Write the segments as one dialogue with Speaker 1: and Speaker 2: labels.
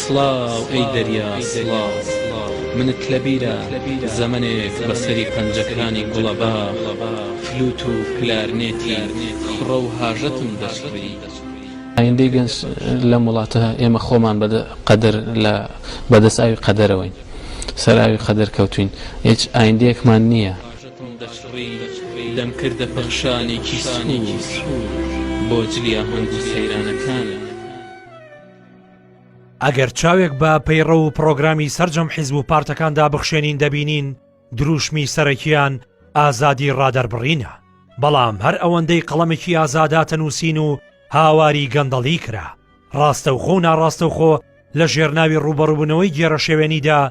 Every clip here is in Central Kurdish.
Speaker 1: سڵاو ئەی دەریا سڵاو منت لەبیرە زەمەنێک بە سەری پەنجەکانی گوڵەباخ فلوت و کلارنێتی خڕە و هاژەتم دەچڕی. ئایندەی
Speaker 2: گەنج لەم وڵاتە ئێمە خۆمان بە قەدەر لە بەدەست ئاوی قەدەرەوەین سەر ئاوی قەدەر کەوتوین هیچ ئایندەیەکمان نییە. دڵم دەچڕی
Speaker 1: دەمکردە پەخشانێکی سوور بۆ جلی ئاهەنگ و سەیرانەکانت.
Speaker 3: ئەگەر چاوێک بە پەیڕەو و پڕۆگرامی سەرجەم حیزب و پارتەکاندا بخشێنین دەبینین دروشمی سەرەکیان ئازادی ڕادەربڕینە بەڵام هەر ئەوەندەی قەڵەمێکی ئازاداتە نووسین و هاواری گەندەڵی کرا ڕاستەوخۆ و ناڕاستەوخۆ لە ژێرناوی ڕووبەڕووبوونەوەی گێرەشێوێنیدا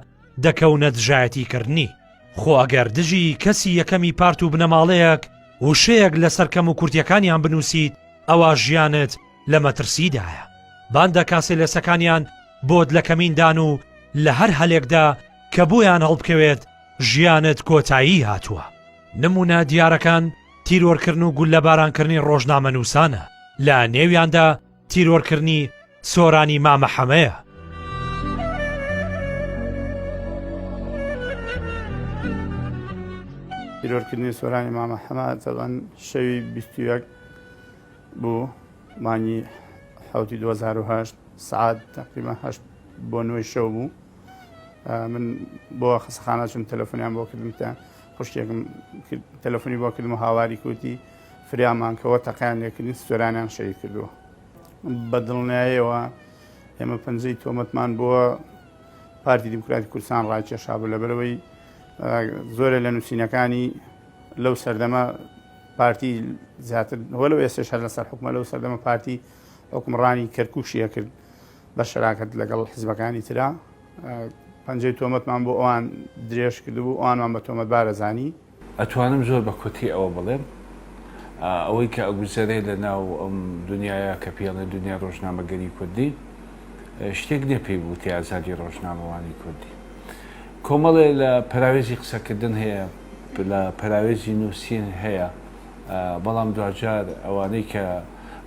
Speaker 3: دەکەونە دژایەتیکردنی. خۆ ئەگەر دژی کەسی یەکەمی پارت و بنەماڵەیەک وشەیەک لەسەر کەموکورتیەکانیان بنووسیت ئەوا ژیانت لە مەترسیدایە. باندا کاسێلێسەکانیان بۆت لە کەمیندان و لە هەر هەلێکدا کە بۆیان هەڵبکەوێت ژیانت کۆتایی هاتووە. نموونە دیارەکان تیرۆرکردن و گوللەبارانکردنی ڕۆژنامەنووسانە، لە نێویاندا تیرۆرکردنی سۆرانی مامە حەمەیە.
Speaker 4: تیرۆرکردنی سۆرانی مامە حەمە تەبەن شەوی 21 بوو مانگی حوتی 2010 سعات تقریبا هەشت بۆ نوێی شەو بوو من بۆ خسەخانە چون تەلەفۆنیان بۆ کردم تە خوشکێکم تەلەفۆنی بۆ کردم و هاواری کوتی فریامان کەوە تەقەیان لێکردین سوێرانیان شەهید کردووە بە دڵنیایەوە ئێمە پەنجەی تۆمەتمان بۆ پارتی دیموکراتی کوردستان ڕاکێشا بوو لەبەرەوەی زۆرە لە نووسینەکانی لەو سەردەمە پارتی زیاتر هۆ لەو ئێستا شەر لەسەر حکومە لەو سەردەمە پارتی حکومڕانی کەرکوشیە کرد بە شراکەت لەگەڵ حزبەکانی تررا پەنجەی تۆمەتمان بۆ ئەوان درێژ کردبوو ئەوانمان بە تۆمەتبارە زانی ئەتوانم زۆر
Speaker 5: بە کورتی ئەوە بڵێم ئەوەی کە ئەگوزەرێ لە ناو ئەم دنیایە کە پێی ئەڵێن دنیای ڕۆژنامەگەری کوردی شتێک نیە پێی بوتێ ئازادی ڕۆژنامەوانی کوردی کۆمەڵێ لە پەراوێزی قسەکردن هەیە لە پەراوێزی نووسین هەیە بەڵام دواجار ئەوانەی کە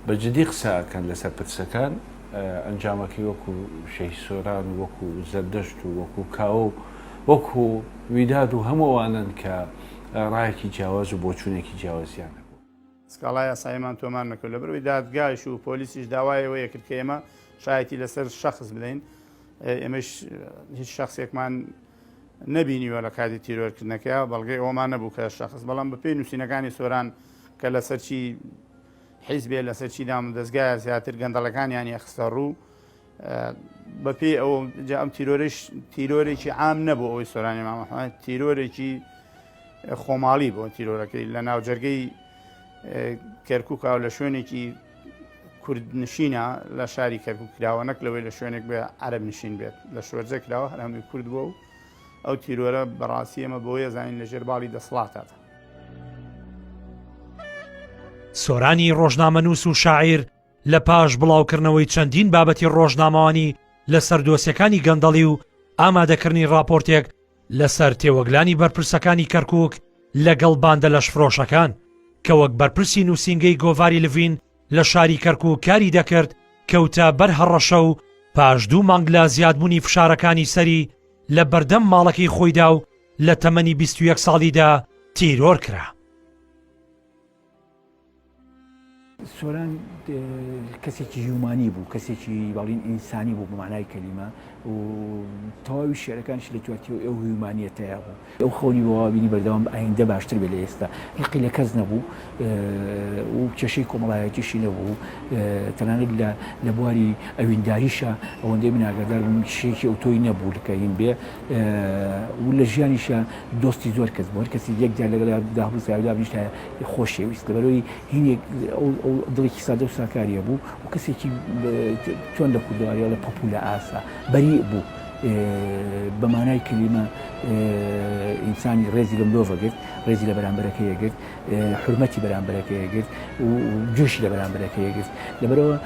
Speaker 5: بە جدی قسەکەن لەسەر پرسەکان ئەنجامەکەی وەکو شەهی سۆران وەکو زەردەشت و وەکو کاوە و وەکو ویداد و هەموو ئەوانەن کە ڕایەکی جیاواز و بۆچوونێکی جیاوازیان هەبوو. سکاڵا یاساییمان
Speaker 4: تۆمار نەکرد، لەبەرئەوەی دادگایش و پۆلیسیش داوای ئەوەی کرد کە ئێمە شایەتی لەسەر شەخس بدەین، ئێمەش هیچ شەخسێکمان نەبینیوە لە کاتی تیرۆرکردنەکە، بەڵگەی ئەوەمان نەبوو کە شەخس، بەڵام بەپێی نووسینەکانی سۆران کە لەسەر چی حیزبێ، لەسەر چی دامودەزگایە زیاتر گەندەڵەکانیان یەخستەڕوو. بەپێی ئەو جا ئەم تیرۆرش تیرۆرێکی عام نەبوو ئەوەی سۆرانی مامەحمد تیرۆرێکی خۆماڵی بۆ تیرۆرەکەی لە ناوجەرگەی کەرککاو لە شوێنێکی کورد نشینە لە شاری کەرکک کراوە نەک لەوەی لە شوێنێک بێ عرب نشین بێت لە شوەرجە کراوە هەرهامی کورد بووە و ئەو تیرۆرە بەڕاستی ئەمە بۆیە زانین لە ژێر باڵی دەسڵاتات. سۆرانی
Speaker 3: ڕۆژنامەنووس و شاعیر لە پاش بڵاوکردنەوەی چەندین بابەتی ڕۆژنامەوانی لەسەر دۆسیەکانی گەندەڵی و ئامادەکردنی ڕاپۆرتێک لەسەر تێوەگلانی بەرپرسەکانی کەرکک لەگەڵ باندە لەشفرۆشەکان کە وەک بەرپرسی نووسینگەی گۆڤاری لڤین لە شاری کەرکک کاری دەکرد کەوتە بەر هەڕەشە و پاش دوو مانگ لە زیادبوونی فشارەکانی سەری لە بەردەم ماڵەکەی خۆیدا و لە تەمەنی 21 ساڵیدا تیرۆر کرا.
Speaker 6: سۆران کەسێکی هیومانی بوو کەسێکی بەڵین ئینسانی بوو بمانای کەلیمە و تەواوی شعرەکانش لە جوواتی و ئەو هیومانیەتەیە بوو ئەو خەونی بەوابینی بەردەوام ئایندە باشتر بێ لە ئێستا لقی لە کەس نەبوو و کێشەی کۆمەڵایەتیشی نەبوو تەنانەت لە لە بواری ئەوینداریشە ئەوەندەی من ئاگادار بووم شێکی ئەو تۆی نەبوو لکەین بێ و لە ژیانیشە دۆستی زۆر کەس بۆر کەسی یەکجار لەگەڵ داهبوو ساودا بنیشتە خۆشەویست لەبەرئەوەی هینێک ئەو دڵێکی سادە و ساکاریە بوو و کەسێکی چۆن لە کوردەواریەوە لە پەپوو لە ئاسا بەری بوو بە مانای کلیمە ئینسانی ڕێزی لە مرۆڤەگرت ڕێزی لە بەرامبەرەکەیەگرت حرمەتی بەرامبەرەکەیەگرت و جۆشی لە بەرامبەرەکەیەگرت لەبەرەوە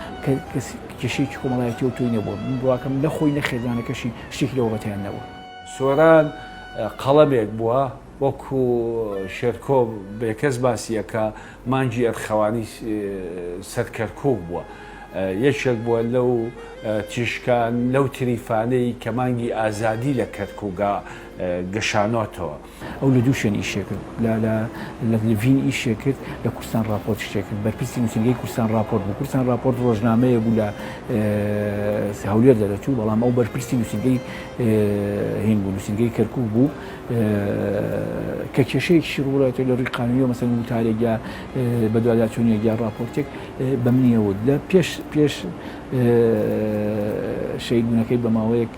Speaker 6: کێشەیەکی کۆمەڵایەتی و تۆی نەبووە من بڕواکەم نەخۆی نە خێزانەکەشی شتێکی لەوەبەتیان نەبووە. سۆران
Speaker 5: قەڵەمێک بووە. وەکو شێرکۆ بێکەس باسی ئەکا مانگی ئەرخەوانی سەر کەرکوک بووە یەکێک بووە لەو تیشکان لەو تریفانەی کە مانگی ئازادی لە کەرکوگا گەشانۆتەوە. ئەو لە دوو
Speaker 6: شوێن ئیشێ کرد، لە لە لڤین ئیشێ کرد، لە کوردستان ڕاپۆرت شتێ کرد، بەرپرسی نووسینگەی کوردستان ڕاپۆرت بوو، کوردستان ڕاپۆرت ڕۆژنامەیە بوو لە هەولێر دەرەچوو، بەڵام ئەو بەرپرسی نووسینگەی هین بوو، نووسینگەی کەرکوک بوو. کە کێشەیەکیشی ڕووبەڕاتێ لە ڕووی قانونیەوە مەسەن وتارێک یا بەدواداچوونێک یا ڕاپۆرتێک بەم نییە وت لە پێش پێش شەیدونەکەی بە ماوەیەک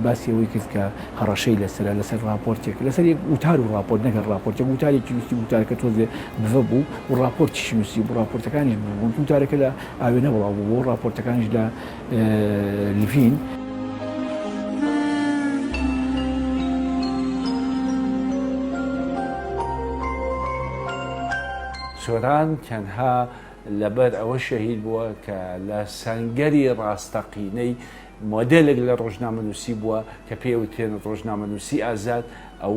Speaker 6: باسی ئەوەی کرد کە هەڕەشەی لەسرە لەسەر ڕاپۆرتێک لەسەر یەک وتار و ڕاپۆرت نەگەر ڕاپۆرتێک وتارێکی نووسی وتارەکە تۆزێ بڤە بوو و ڕاپۆرتیشی نووسی بوو ڕاپۆرتەکانیش بوون وتارەکە لە ئاوێنە بڵاو بوو بۆ ڕاپۆرتەکانیش لە لڤین.
Speaker 5: سۆران تەنها لەبەر ئەوە شەهید بووە کە لە سەنگەری ڕاستەقینەی مۆدلێک لە ڕۆژنامەنووسی بووە کە پێوتێن ڕۆژنامەنووسی ئازاد ئەو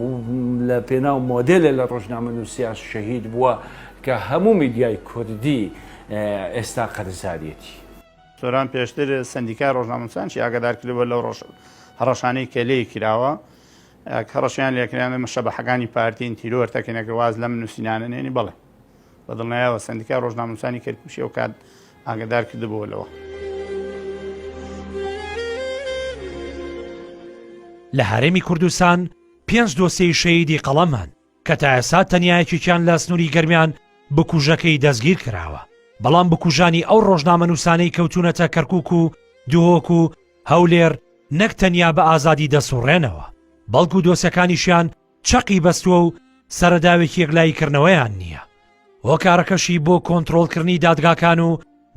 Speaker 5: لە پێناو مۆدلە لە ڕۆژنامەنووسیاس شەهید بووە کە هەموو میدیای کوردی ئێستا قەرزارەتی. سۆران
Speaker 4: پێشتر سەندیکای ڕۆژنامەنووسانشی ئاگادار کردبوو لەو هەڕەشانەی کە لێی کراوە کە هەڕەشیان لێکرانە مەشەبەحەکانی پارتین تیرۆر تەکەنەکە واز لەم نووسینانە نێنی بڵێ بە دڵنیایەوە سەندیکای ڕۆژنامەنووسانی کەرکوشی و کات ئاگادار کردبوو لەوە.
Speaker 3: لە هەرێمی کوردستان پێنج دۆسیەی شەیدی قەڵەم هەن کە تا ئێستا تەنیا یەکێکیان لە سنووری گەرمیان بکوژەکەی دەستگیر کراوە، بەڵام بکوژانی ئەو ڕۆژنامەنووسانەی کەوتوونەتە کەرکووک و دهۆک و هەولێر نەک تەنیا بە ئازادی دەسوڕێنەوە، بەڵکو دۆسێکانیشیان چەقی بەستووە و سەرەداوێکی یەکلاییکردنەوەیان نییە، هۆکارەکەشی بۆ کۆنترۆڵکردنی دادگاکان و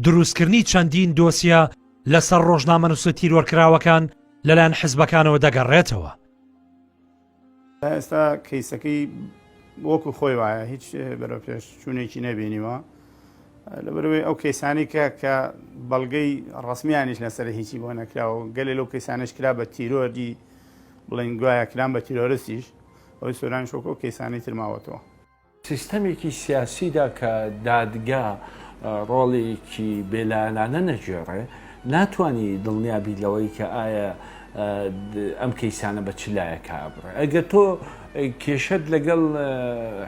Speaker 3: دروستکردنی چەندین دۆسیە لەسەر ڕۆژنامەنووسە تیرۆرکراوەکان لەلایەن حزبەکانەوە دەگەڕێتەوە. تا
Speaker 4: ئێستا کەیسەکەی وەکو خۆی وایە هیچ بەرەو پێش چوونێکی نەبینیوە لەبەرەوەی ئەو کەیسانی کە کە بەڵگەی ڕسمیانیش لەسەر هیچی بۆ نەکراوە گەلێ لەو کەیسانش کرا بە تیرۆری بڵین گوایە کران بە تیرۆرسیش ئەوی سۆران شۆکۆ کەیسانی ترماوەتەوە سیستەمێکی
Speaker 5: سیاسیدا کە دادگا ڕۆڵێکی بێلایەنانە نەگێڕێ، ناتوانی دڵنیا بیت لەوەی کە ئایا ئەم کەیسانە بە چ لایەکا ئەبڕێ. ئەگەر تۆ کێشەت لەگەڵ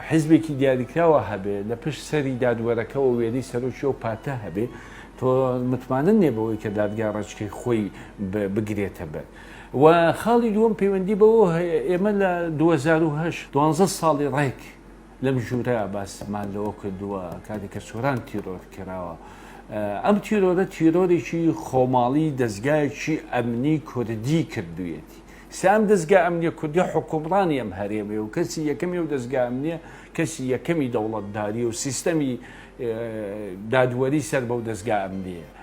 Speaker 5: حیزبێکی دیاریکراوە هەبێ، لە پشت سەری دادوەرەکەوە وێنەی سەرۆکی ئەو پارتە هەبێ، تۆ متمانە نییە بەوەی کە دادگا ڕێچکەی خۆی بگرێتە بەر. وە خاڵی دووەم پەیوەندی بەوە هەیە ئێمە لە دوو هەزار و هەشت دوانزە ساڵی ڕێک لەم ژوورە باسمان لەوە کردووە کاتێک کە سۆران تیرۆر کراوە ئەم تیرۆرە تیرۆرێکی خۆماڵی دەستگایەکی ئەمنی کوردی کردوویەتی سام دەستگا ئەمنیە کوردی حکومڕانی ئەم هەرێمێ و کەسی یەکەمی و دەستگا ئەمنیە کەسی یەکەمی دەوڵەتداری و سیستەمی دادوەری سەر بەو دەستگا ئەمنیە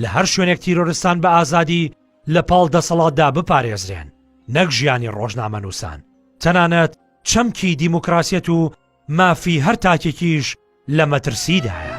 Speaker 5: لە
Speaker 3: هەر شوێنێک تیرۆرستان بە ئازادی لە پاڵ دەسەڵاتدا بپارێزرێن نەک ژیانی ڕۆژنامەنووسان تەنانەت چەمکی دیموکراسیەت و مافی هەر تاکێکیش لە مەترسیدایە.